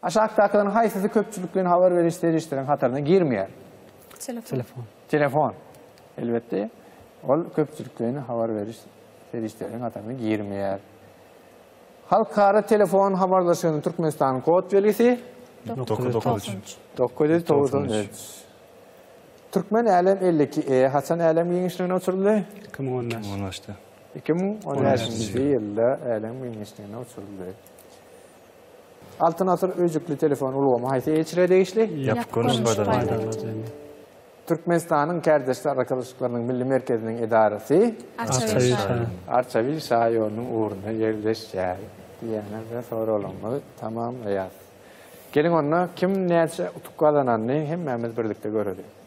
Aşakdakylaryň haýsysy köpçülikleýin habar beriş serişdesiniň hataryna girmeýär? Telefon. Telefon. Elbetde, ol köpçülikleýin habar beriş serişdesiniň hataryna girmeýär. Halkara telefon habarlaşygynyň Türkmenistanyň kod belgisi? 993. 993. Türkmen älem 52 e haçan älem giňişligine uçuryldy? 2015. 2015-de. Iki müň on bäşinji ýylda älem giňişligine uçuryldy. Altyn asyr öýjükli telefon ulgamy haýsy eçre degişli? Ýapyk görnüş Türkmenistanyň Kärdeşler arkalaşyklarynyň milli merkeziniň edarasy Arçabil şaýolunyň ugrunda ýerleşýär. Diýýän we soraglarymyzy tamamlaýarys. Geliň onda kim näçe utuk gazananyny hemmämiz birlikde göreliň.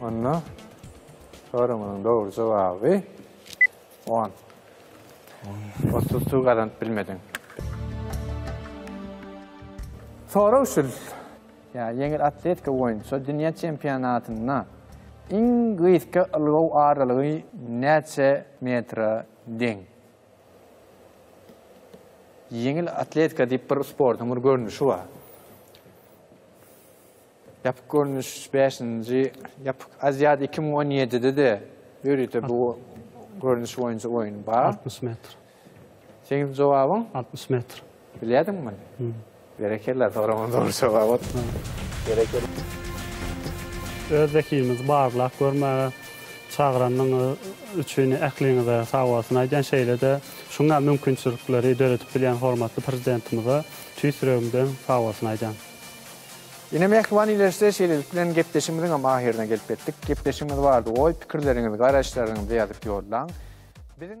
Onda sorumyň dogry jogaby on. Otuz suw gazanyp bilmediň. Sorag şul. Ýa ýeňil atletika boýunça dünýä çempionatynda iň gysga ylgaw aralygy näçe metre deň? Ýeňil atletika diýip bir sportuň bir görnüşi bar. Ýapyk görnüş bäşinji Ýapyk Aziada iki müň on ýedide-de ýörite bu görnüş boýunça oýun bar. Altmyş metr. Seň jogabyň? Altmyş metr. Bilýärdiňmi muny? Berekella, soragymyň dogry jogabydy. Berekella. Öz zekimizi barlap görmäge çagyranyňyz üçin ähliňize sag bolsun aýdýan, şeýle-de şuňa mümkinçilikleri döredip bilýän hormatly Prezidentimize tüýs ýüregimden sag bolsun aýdýan. Ine mähriban ilerse şeýlelik bilen gepleşigimiziňem ahyryna gelip ýetdik. Gepleşigimiz barada oý pikirleriňizi garaýyşlaryňyzy ýazyp ýollaň. Biziň.